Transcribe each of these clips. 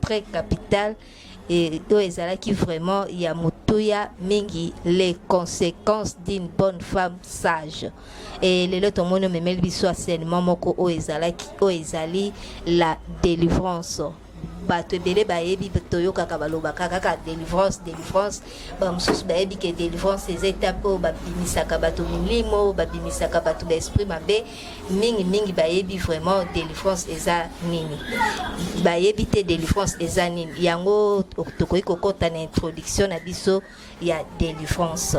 Très capital et oyo ezalaki vraiment ya motuya mingi les conséquences d'une bonne femme sage et lelo tomoni omemeli biso asenement moko oyo ezalaki oyo ezali la délivrance bato ebele bayebi toyokaka balobaka kaka délivrance délivrance bamosusu bayebi ke délivrance eza etape oyo babimisaka bato milimo babimisaka bato baesprit mabe mingi mingi bayebi vraiment délivrance eza nini bayebi te délivrance eza nini yango tokoki kokɔta na introduction na biso ya délivrance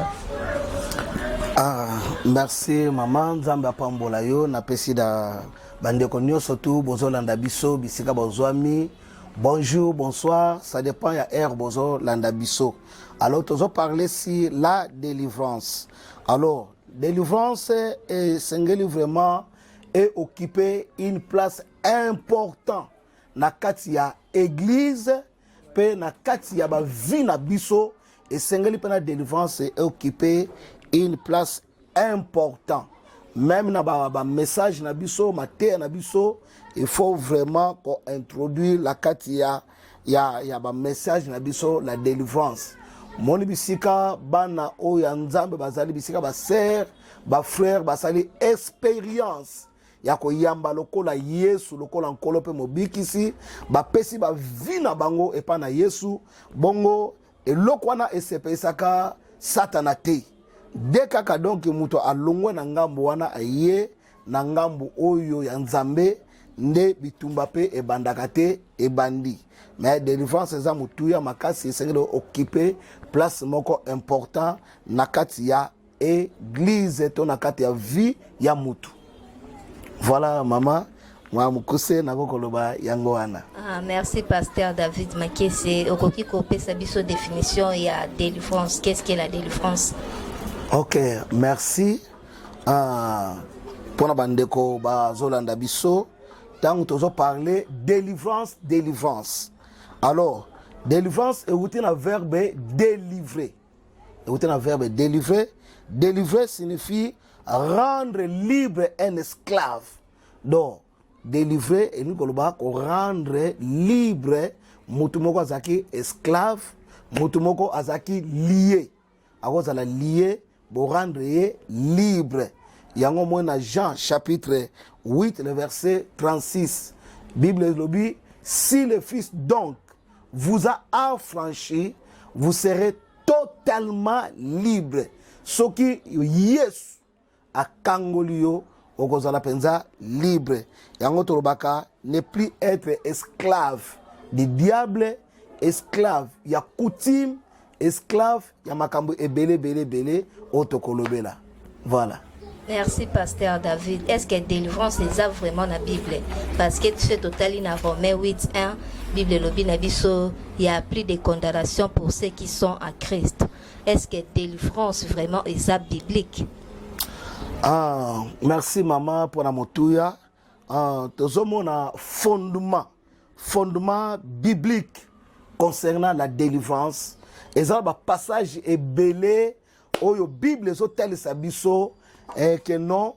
ah, merci mama nzambe apambola yo napesi na bandeko nyonso tu bozolanda biso bisika bozwami bonjour bonsoir ça dépend ya heure bozolanda biso alors tozoparle si la délivrance alors Delivrance esengeli vraiment e occuper une place important na kati ya église mpe na kati ya bavie na biso esengeli mpe na délivrance e occuper une place important même na bamessage ba na biso mateya na biso il faut vraiment kointroduire na kati ya ya, ya bamessage na biso la délivrance moni bisika bana oyo ya nzambe bazali bisika basere bafrere basali experience ya koyamba lokola yesu lokola nkolo mpe mobikisi bapesi bavi na bango epai na yesu bongo eloko wana esepelisaka satana te de kaka donki moto alongwe na ngambo wana aye Na ngambo oyo ya Nzambe nde bitumba pe ebandaka te, ebandi. Mais delivrance eza motuya makasi, esengeli okipe place moko important na kati ya eglise to na kati ya vie ya mutu. Voilà mama mwa mokuse nako koloba yango wana. Ah, merci pasteur David Makese, okoki kopesa biso definition ya delivrance, qu'est-ce que la delivrance? Ok, merci. Ah, mpo na bandeko bazolanda biso ntango tozo parle délivrance délivrance alors délivrance euti na verbe délivrer euti na verbe délivrer délivrer signifie rendre libre un esclave donc délivrer elingi koloba korendre libre motu moko azalaki esclave motu moko azalaki lie akozala lie borendre ye libre yango moi na jean chapitre 8 le verset 36 bible elobi si le fils donc vous a affranchi vous serez totalement libre soki yesu akangoli yo okozala mpenza libre yango tolobaka ne plus être esclave du diable esclave ya coutume esclave ya makambo ebele ebele ebele oyo tokolobela voilà Merci pasteur David. Est-ce que délivrance les a vraiment la Bible Parce que tu fais total in Romains 8 1 Bible lobi na biso il y a plus de condamnation pour ceux qui sont en Christ. Est ce que délivrance vraiment eza biblique? Ah, merci maman pona motuya. Ah, tozomona fondement fondement biblique concernant la délivrance eza ba passage ebele oyo bible ezotalisa biso eh, que non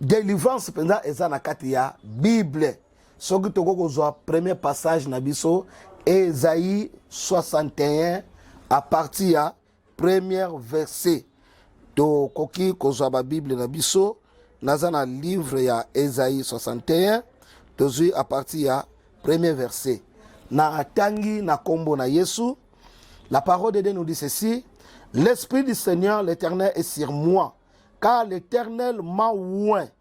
délivrance mpenza eza na kati ya bible soki tokoki kozwa premier passage na biso ezayi 61 a partir ya première verset tokoki kozwa babible na biso naza na livre ya ezayi 61 tozwi a partir ya premier verset natangi na nkombo na yesu la parole de dieu nous dit ceci l'esprit du seigneur l'éternel est sur moi car l'éternel m'a oint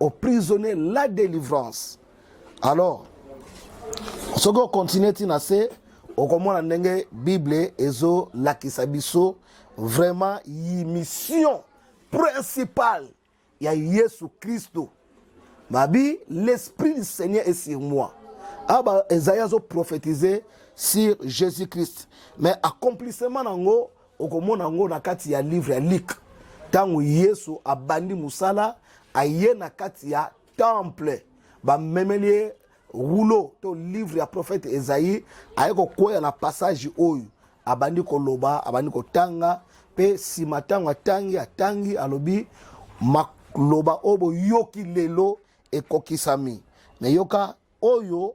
au prisonnier la délivrance alors soki okontinue ti na se okomona ndenge bible ezolakisa biso vraiment mission principale ya yesu kristo babi l'esprit du seigneur est sur moi aba ah, ezali azoprofetize sur jésus christ mais accomplissement na yango Okomona yango na kati ya livre ya Luc. Ntango Yesu abandi mosala, aye na kati ya temple, bamemeli ye rulo to livre ya prophète Esaïe, aye kokwea na passage oyo abandi koloba, abandi kotanga, mpe nsima ntango atangi atangi, alobi maloba oyo boyoki lelo ekokisami. Meyoka oyo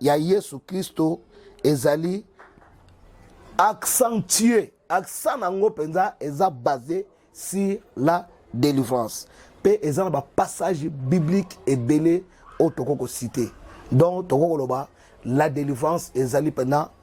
ya Yesu Klisto ezali accentue accent na yango mpenza eza base sur la délivrance mpe eza na bapassage biblique ebele oyo tokoki kosite donc tokoki koloba la délivrance ezali mpenza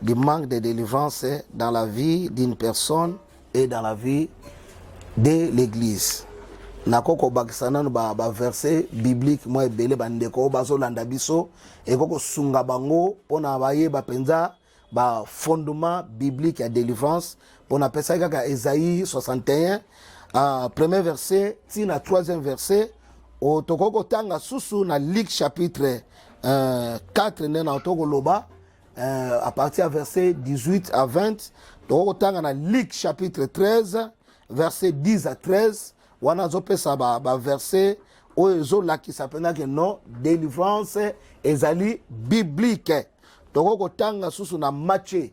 du manque de délivrance dans la vie d'une personne et dans la vie de l'église nakoki kobakisa nano baverse ba biblique mwa ebele bandeko oyo bazolanda biso ekoki kosunga bango mpona bayeba mpenza bafondement biblique ya délivrance Bon, appelle kaka Esaïe 61, euh, premier verset, ti na troisième verset. Oh, tokoki kotanga susu na Luc chapitre euh, 4 nde na toko loba euh, à partir ya verset 18 à 20 tokoki kotanga na Luc chapitre 13 verset 10 à 13 wana azopesa baverset ba oyo ezolakisa mpenza ke non délivrance ezali biblique tokoki kotanga susu na matie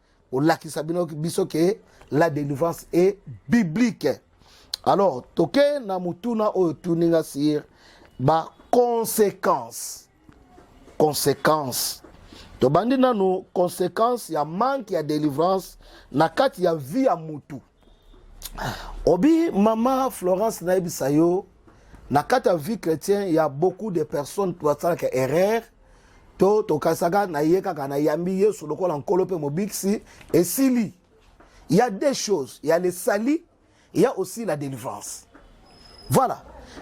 kolakisa bino biso ke la délivrance est biblique alors toke na motuna oyo tuni nga sir ba conséquence conséquence tobandi nanu conséquence ya manque ya délivrance na kati ya vie ya mutu Obi mama Florence nayebisa yo na kati ya vie chrétien ya beaucoup de personnes basalaka erreur to tokasaka na ye kaka na yambi yesu lokola nkolo mpe mobikisi esili ya deux choses ya le sali ya aussi la délivrance voilà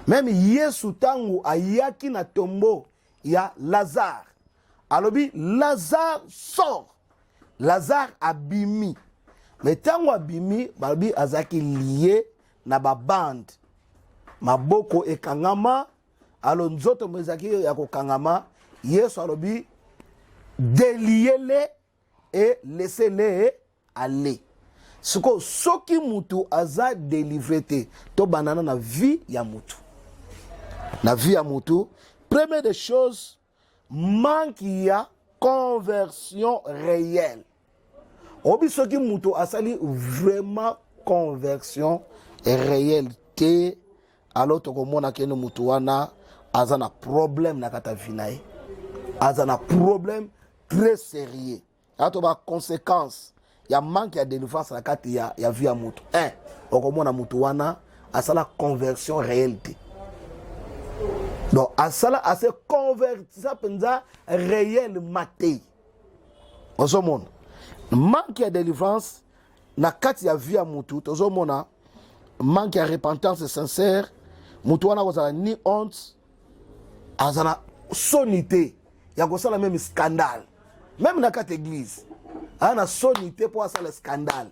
meme yesu ntango ayaki na tombo ya lazare alobi lazare sort lazare abimi me ntango abimi balobi azalaki lie na babande maboko ekangama alo nzoto mo ezalaki ya kokangama yesu alobi deliyele e lesele aller sikoyo soki mutu aza delivre te tobandana na vie ya mutu na vie ya mutu première des choses manque ya conversion réelle obi soki mutu asali vraiment conversion réelle te alors tokomona kende mutu wana aza na problème na kata vie na ye aza na problème très sérieux aa to baconséquence ya manque ya délivrance na kati ya, ya vie ya moto un okomona moto wana asala conversion réelle te donc asala ase convertisa mpenza réellement te ozomona manque ya délivrance na kati ya vie ya motu tozomona manque ya repentance sincère motu wana akozala ni honte aza na soni te ya kosala meme scandale meme na kati eglise aza na soni te mpo asala scandale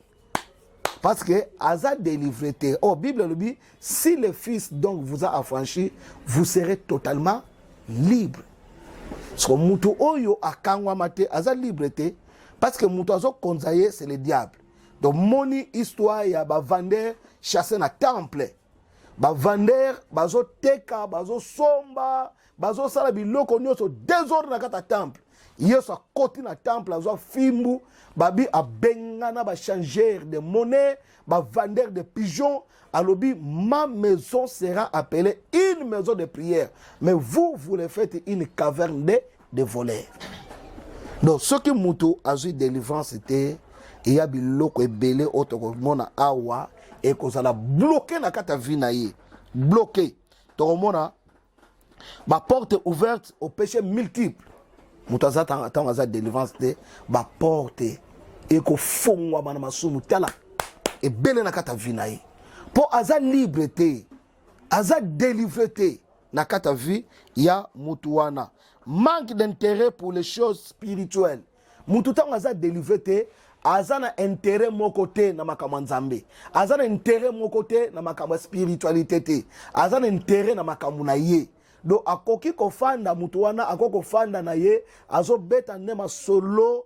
parce que aza délivré te oh bible elobi si le fils donc vous a affranchi vous serez totalement libre soko motu oyo akangwama te aza libre te parce que motu azokonza ye c'est le diable donc moni histoire ya bavandeur chasse na temple bavander bazoteka bazosomba bazosala biloko nyonso desordre na kati ya temple yesu akoti na temple azwa fimbu babi abengana bachanger de monnaie bavander de pigeon alobi ma maison sera appelée une maison de prière mais vous vous le faites une caverne de de voler donc soki moto azwi délivrance te eya biloko ebele oyo tokomona awa ekozala bloke na kati ya vie na ye bloke tokomona baporte ouverte au péché multiple moto aza ntango aza délivrance te baporte ekofongwama na masumu tala ebele na kati ya vie na ye mpo aza libre te aza delivre te na kati ya vie ya mutu wana manque d'intérêt pour les choses spirituelles mutu ntango aza delivre te aza na intérêt moko te na makambo ya nzambe aza na intérêt moko te na makambo ya spiritualité te aza na intérêt na makambo na ye donc akoki kofanda mutu wana akoki kofanda na ye azobeta nde masolo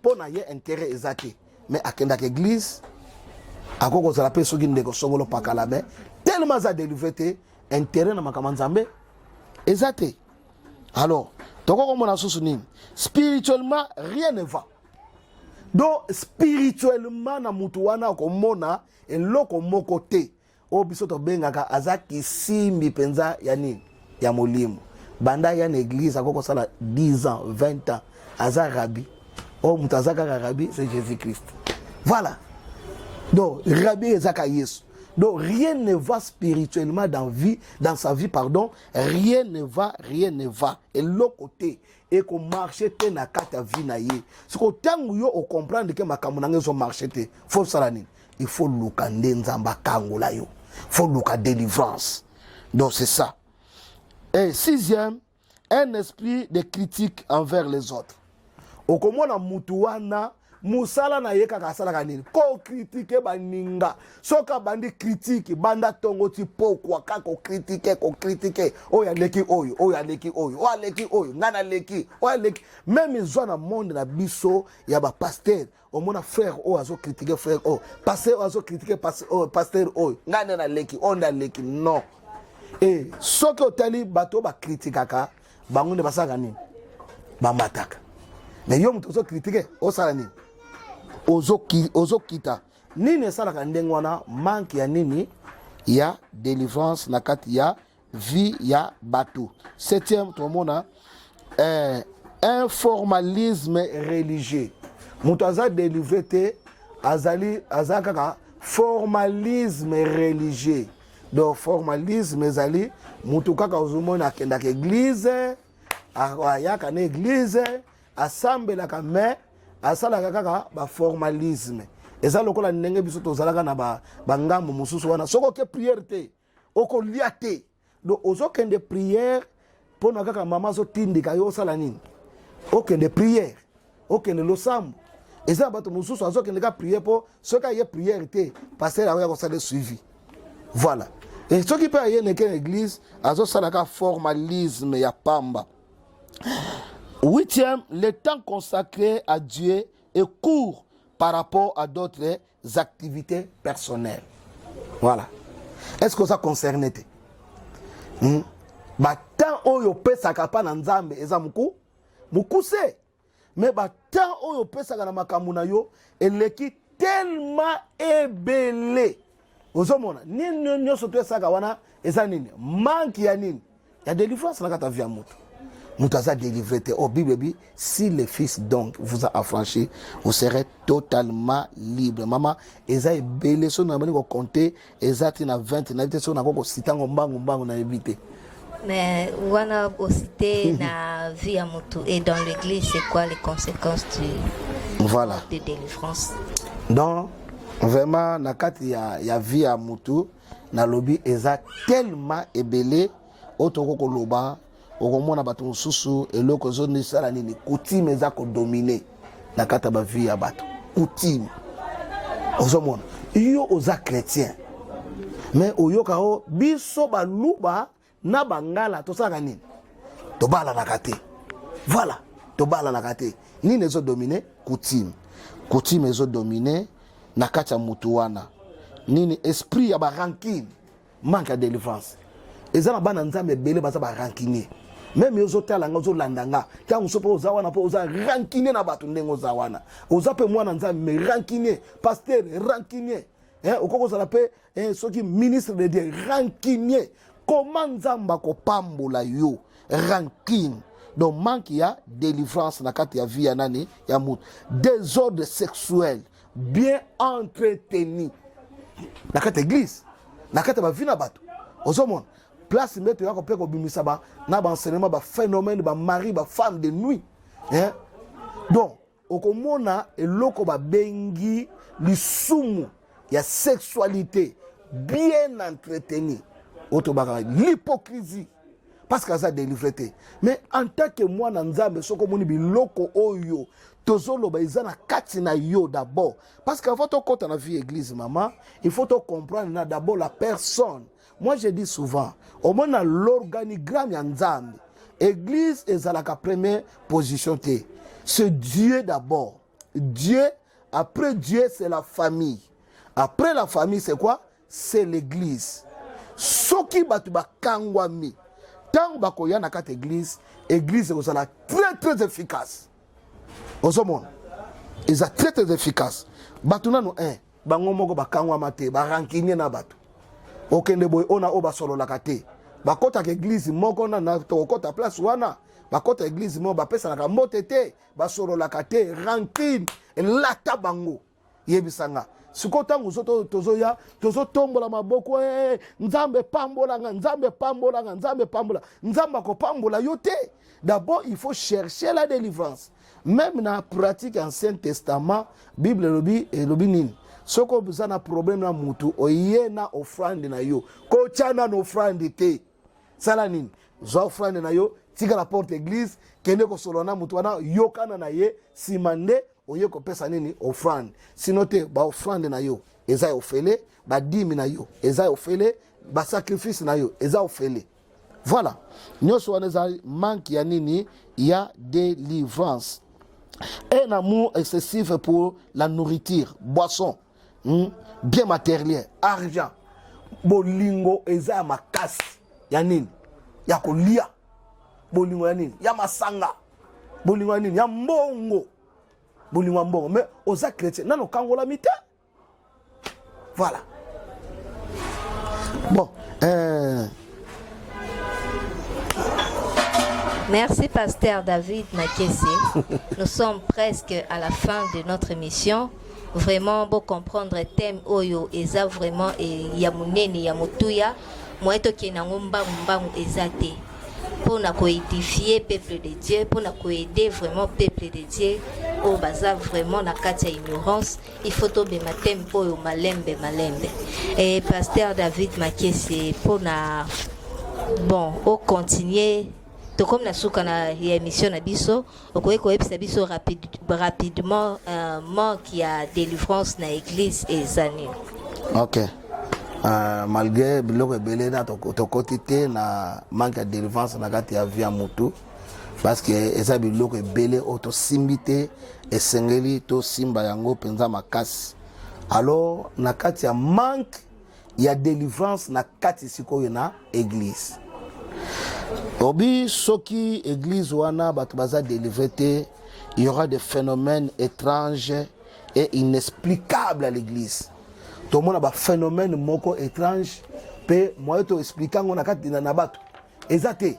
mpo na ye intérêt eza te mais akendaka église akoki kozala mpe soki ndeko songolo pakala mais tellement aza délivré te intérêt na makambo ya nzambe eza te alors tokoki komona susu nini spirituellement rien ne va donc spirituellement na motu wana akomona eloko moko te oyo biso tobengaka aza kisimbi mpenza ya nini ya molimo banda ya na eglise akoki kosala 10 ans 20 ans aza rabi oyo moto aza kaka rabi c'est jésus christ voilà donc rabi ezaka yesu donc rien ne va spirituellement dans vie dans sa vie pardon rien ne va rien ne va eloko te ekomarche te na kati ya vie na ye siko ntango yo okomprendre ke makambo na ngai ezomarche te fo osala nini il faut luka nde nzambe akangola yo fo luka délivrance donc c'est ça et sixième un esprit de critique envers les autres okomona mutu wana mosala na ye kaka asalaka nini kokritike baninga soki abandi kritike banda ntongo ti pokwa kaka kokritike kokritike oyo aleki oyo oyo aleki oyo oyo aleki oyo ngai naleki oyo aleki meme ezwa na monde na biso ya bapaster omona frère oyo azokritike frère oyo paster oyo azokritike paster oyo ngai nde naleki oyo nde aleki non e soki otali bato oyo bakritikaka bango nde basalaka nini bamataka me yo moto ozo kritike osala nini ozokita nini esalaka ndenge wana manke ya nini ya délivrance na kati ya vie ya bato septième tomona eh, un formalisme religieux moto aza délivre te azali aza kaka formalisme religieux donc formalisme ezali motu kaka ozomona akendaka eglize ayaka na eglize asambelaka mais asalaka kaka baformalisme eza lokola ndenge biso tozalaka na bangambo ba mosusu wana soki oke priere te okolia te donc ozokende priere mpo na kaka mama azotindika yo osala nini okende priere okende losambo eza na bato mosusu azokende ka priere mpo soki aye priere te paster yango ya kosala suivi voilà e soki mpe aye neke na eglise azosalaka formalisme ya pamba huitième le temps consacré à dieu est court par rapport à d'autres activités personnelles voilà est ce que oza concerne te hmm? batemp oyo opesaka mpa na nzambe eza moku mokuse me batemp oyo opesaka na makambo na yo eleki telema ebele ozomona nini nyonso to esaka wana eza nini manke ya nini ya delivrance na kata vie ya moto moto aza délivré te o oh, bible ebi si le fils donc vous a affranchi vous serez totalement libre mama eza ebele soki nabandi kocompte eza ti na 20 nayebi te soki nakoki kosita yango mbangu mbangu nayebi te Mais wana osite na vie ya motu et dans l'église c'est quoi les conséquences du voilà de délivrance donc vraiment na kati ya, ya vie ya motu nalobi eza tellement ebele oyo tokoki koloba okomona bato mosusu eloko ezosala nini coutume eza kodomine na kati ya bavie ya bato coutume ozomona yo oza chrétien mais oyoka o oh, biso baluba na bangala tosalaka nini tobalanaka te voilà tobalanaka te nini ezodomine coutume coutume ezodomine na kati ya motu wana nini esprit ya barankine manque ya délivrance eza na bana nzambe ebele baza barankinier meme yo ozotala nga ozolanda nga ntango mosusu mpe oza wana mpo oza rankine na bato ndenge oza wana oza mpe mwana nzambe me rankine paster rankine eh, okoki kozala mpe eh, soki ministre de dieu rancunier koma nzambe akopambola yo rancune donc manque ya délivrance na kati ya vie ya nani ya moto désordre sexuel bien entretenu na kati ya église na kati ya bavi na bato ozomona place mbe toyaka mpe kobimisa ba, na baenseignement baphénomène bamari bafemme de nuit eh? donc okomona eloko babengi lisumu ya sexualité bien entretenu oyo tobaka l'hypocrisie parce que aza délivré te mais en tant que mwana nzambe soki omoni biloko oyo tozoloba eza na kati na yo d'abord parce que avant tokɔta na vie église mama il faut tocomprendre na d'abord la personne Moi je dis souvent, omona l'organigramme ya Nzambe, église ezalaka première position te. C'est Dieu d'abord. Dieu, après Dieu, c'est la famille. Après la famille, c'est quoi C'est l'église. Soki batu bakangwami, tango bakoya na kati église, église ekozala très très efficace. Ozomona, eza très très efficace. Batu nanu un. Eh, bango moko bakangwama te barankinie na bato okende boye oyo na oyo basololaka te bakotaka eglize moko na tokokota place wana bakota eglize moko bapesanaka mbote te basololaka te rankine elata bango yebisa nga sikoyo ntango mosusu tozoya tozotombola maboko e nzambe pambola nga nzambe pambola nga nzambe pambola nzambe akopambola yo te d'abord il faut chercher la délivrance meme na pratique ya ancien testament bible elobi elobi nini soki oza na problème na mutu oye na offrande na yo kotya na offrande te sala nini zwa offrande na yo tika na porte église kende kosolola na motu wana yokana na ye nsima nde oye kopesa nini offrande sino te baoffrande na yo eza ya ofele badimi na yo eza ya ofele basacrifice na yo eza ofele Voilà, nyonso wana eza manque ya nini ya délivrance. Un amour excessif pour la nourriture, boisson, hmm, bien matériel, argent. Bolingo eza ya makasi ya nini ya kolia, bolingo ya nini ya masanga, bolingo ya nini ya mbongo, bolingo ya mbongo. Mais oza chrétien nano kangolami te. Voilà. Bon, euh... Merci Pasteur David Makesse. Nous sommes presque à la fin de notre émission. Vraiment, beau comprendre thème Oyo et ça vraiment et Yamunene Yamutuya. Moi, to qui nango mbangu mbangu ezate. Pour na coédifier peuple de Dieu, pour na coaider vraiment peuple de Dieu. Oh, baza vraiment na katia ignorance. il faut tobema teme oyo malembe malembe e pasteur david makese mpona bon ocontinue tokomi na suka na ya émission na biso okoki koyebisa biso rapide, rapidement uh, manque ya délivrance na église eza nini ok uh, malgré biloko ebele na tokoti te na manque ya délivrance na kati ya vie ya motu parce que eza biloko ebele oyo tosimbi te esengeli tosimba yango mpenza makasi alors na kati ya manque ya délivrance na kati sikoyo na église obi soki église wana bato baza délivre te il y aura des phénomènes étranges et inexplicables à l'église tomona baphénomène moko étrange mpe moye toexplike yango na kati na bato eza te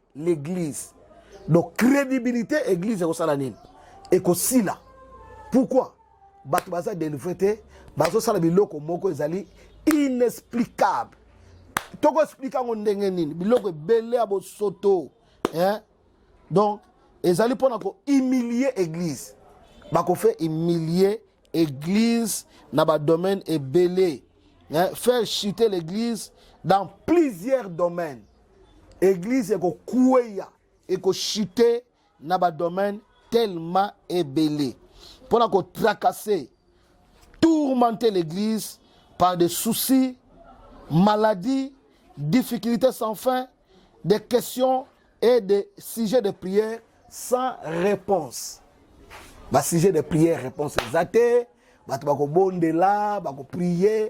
l'église donc crédibilité église ekosala nini ekosila pourquoi bato baza délivré te bazosala biloko moko ezali inexplicable tokoexplike yango ndenge nini biloko ebele ya bosoto eh? donc ezali mpona kohumilie église bakofe humilie église na badomaine ebele eh? faire chuter l'église dans plusieurs domaines Eglise ekokueya, ekochute na ba domaine tellement ebele mpo na kotracase tourmenter l'église par des soucis, maladies, difficultés sans fin, des questions et des sujets de prière sans réponse. Ba sujet de prière réponse eza te, bato bakobondela, bakoprie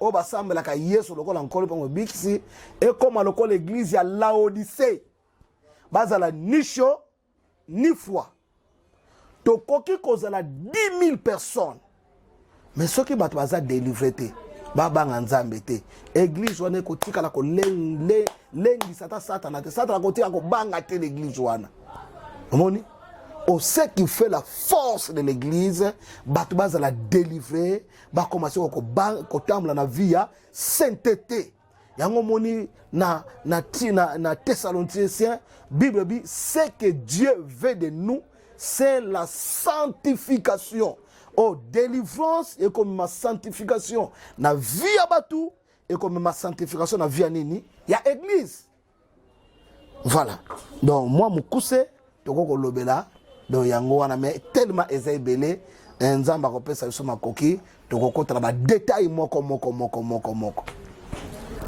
oyo basambelaka yesu lokola nkolo mpe mobikisi ekóma lokola eglize ya laodise bazala ni chaud ni froid tokoki kozala 10000 personnes me soki bato baza delivre te babanga nzambe te eglize wana ekotikala kolengisa ata satana te satana akotika kobanga te leglize wana omoni au ce qui fait la force de l'église bato bazala délivrer bakoma soko kotambola na vie ya sainteté yango omoni na, na, na, na thessaloniciens bible ebi ce que dieu veut de nous c'est la sanctification oh délivrance ekomema sanctification na vie ya bato ekomema sanctification na vie ya nini ya église Voilà. Donc moi mukuse toko kolobela donc yango wana mais tellement eza ebele eh, nzambe akopesa biso makoki tokokota na badetail moko moko moko moko moko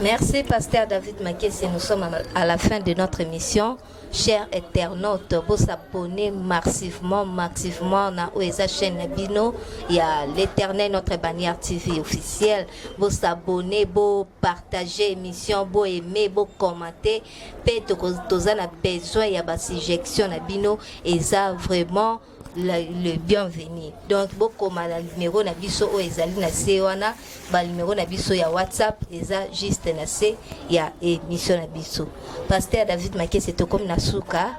Merci, Pasteur David Makessi. Nous sommes à la fin de notre émission. Chers internautes, vous abonnez massivement, massivement na OESA chaîne Bino. Il y a l'éternel, notre bannière TV officielle. Vous abonnez, beau partager émission bo aimer bo commenter pe toza na besoin ya ba suggestion na bino eza vraiment la, le bienvenu donc bokoma na numero na biso oyo ezali na se wana banumero na biso ya whatsapp eza juste na se ya émission na biso paster david makese tokomi na suka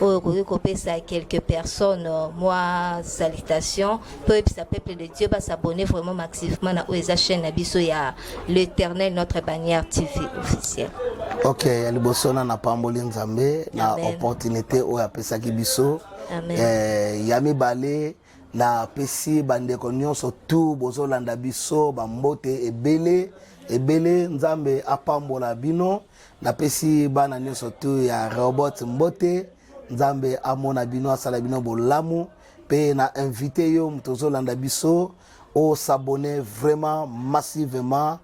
oyo okoki kopesa quelques personnes euh, mwa salutation mpe oyebisa peuple de dieu basabonne vraiment massivement na oyo eza chaîne na biso ya l'éternel notre bannière tv officiel ok ya liboso na napamboli nzambe na opportunité oyo apesaki biso eh, ya mibale napesi bandeko nyonso tu bozolanda biso bambote ebele ebele nzambe apambola bino napesi bana nyonso tu ya robot mbote nzambe amona bino asala bino bolamu mpe na invite yo moto ozolanda biso osabone vraiment massivement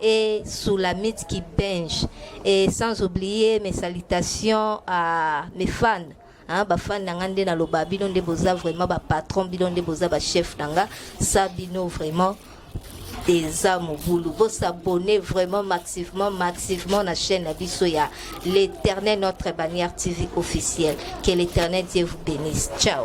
et Soulamit qui bench et sans oublier mes salutations à mes fans hein, ba fans nanga nde na loba bino nde boza vraiment ba patron bino nde boza ba chef nanga sa bino vraiment eza mobulu bosabone vraiment massivement massivement na chaîne na biso ya l'éternel notre bannière tv officielle que l'éternel dieu vous bénisse ciao